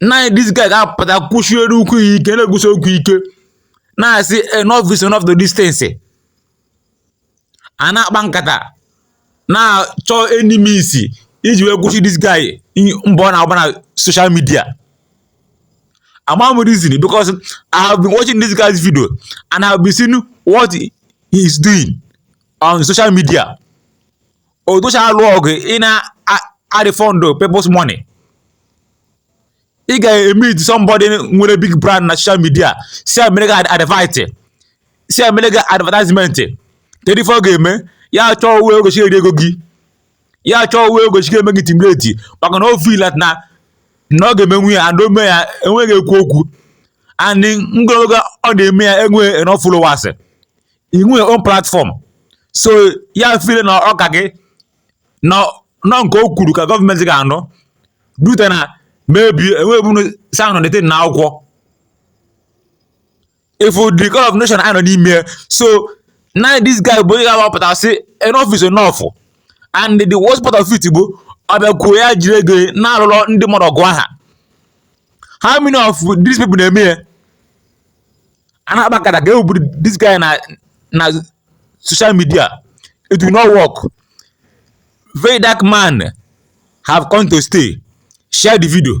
naanị this guy ga-apụta kwụsiere ụkwụ ya ike na-ekwusi okwu ike na-asị enough is enough to the extent a na-akpa nkata na-achọ any means iji wee kwụsị this guy mbọ ọ na-agba na social media ama m reason because I have been watching this guy's video and I have been seeing what he is doing on social media odocha alụ ọgụ ị na-arefund people's money ị ga-emeet somebody nwere big brand na social media sị e meere gị advert sị e meere gị advertisement kedu ife ọ ga-eme ya chọọ way ọ ga-esi eri ego gị ya chọọ way ọ ga-esi eme gị intimidate maka na ọ feel that na na ọ ga-emenwu ya and o mee ya enweghị ekwu okwu and n'ogologo ọ na-eme ya enweghị enough followers inwe your own platform so ya feel na ọ ka gị na nke o kwuru ka gọọmenti ga-anụ due to na maybe enwebunu sanụ dete na akwụkwọ ị fụ the kind of nation anyị nọ n'ime sọ naanị this guy bụ onye ga-agbapụta sị enough is enough and the worst part of it bụ ọ bịakwuo ya jiri ego na-alụlụ ndị mmadụ ọgụ aha how many of these people na-eme ya a na-akpa nkata ka e wepụ this guy na na social media it will not work very dark man have come to stay share the video